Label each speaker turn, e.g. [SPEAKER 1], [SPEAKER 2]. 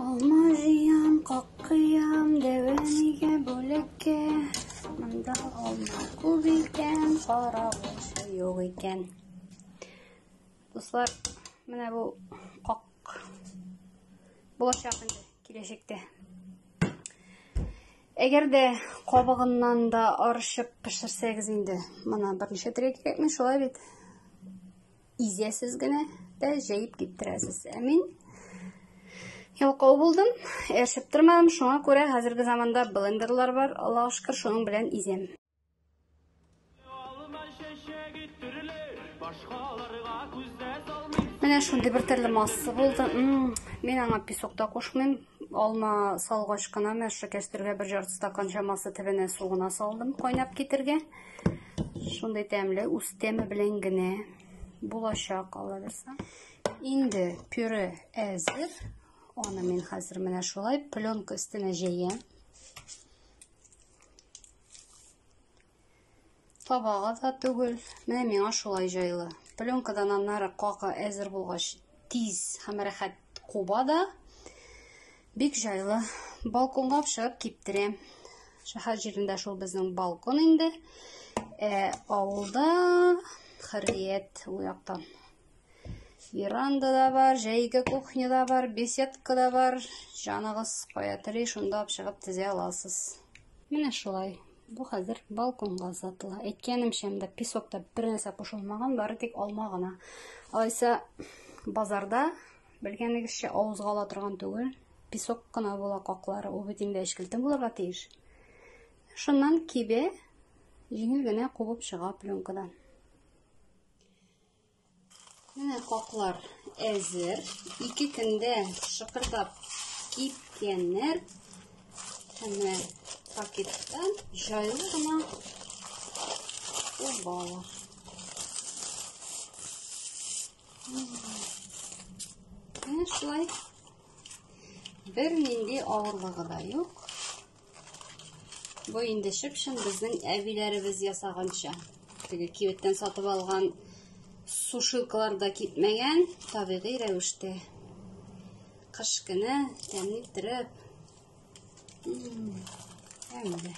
[SPEAKER 1] Алма җыям, каккыям, дәвәмигә бүлеккә. Монда алма күп икән, кара булса юк икән. Дуслар, менә бу как булачак инде киләчәктә. Әгәр дә кабыгыннан да арышып пешерсәгез инде, моны берничә төргә кирәкми, шулай бит? изәсез генә дә җәеп киптерәсез. Ә мин ялкау булдым, яшәп тормадым, шуңа күрә хәзерге заманда блендерлар бар, Аллаһ шөкер, шуның белән изәм. Менә шундый бер төрле масса булды. Мм, мин аңа песок та кушмыйм, Алма салгач кына мәшә кәстергә бер ярты стакан чамасы төбенә су гына салдым кайнап китергә. Шундый тәмле, үз тәме белән генә булачак алабызса. Инде пюре әзер. Аны мин хәзер менә шулай пленка өстенә җәям. Табага да түгел. Менә миңа шулай җайлы. Пленкадан аннары какы әзер булгач, тиз һәм рәхәт куба да. Бик җайлы. Балконга чыгып киптерәм. Шәһәр җирендә шул безнең балкон инде. Ә авылда хәррият у яктан. Веранда да бар, җәйге кухня да бар, беседка да бар. Җаныгыз кая тели, шунда чыгып тезә аласыз. Менә шулай. Бу хәзер балконга озатыла. Әйткәнемчә, монда песокта бер нәрсә кушылмаган, бары тик алма гына. Алайса базарда белгәнегезчә авызга ала торган түгел, песок кына була каклары, ул бит инде әчкелтем булырга тиеш. Шуннан кибе җиңел генә кубып чыга пленкадан. Менә каклар әзер. Ике көндә шыкырдап кипкәннәр. Менә пакеттан җайлы гына убалар. Менә шулай. Бер нинди авырлыгы да юк. Бу инде чып-чын безнең әбиләребез ясаганча. Теге кибеттән сатып алган сушилкалар да китмәгән, табигый рәвештә. Кыш көне тәмле иттереп. Әмдә.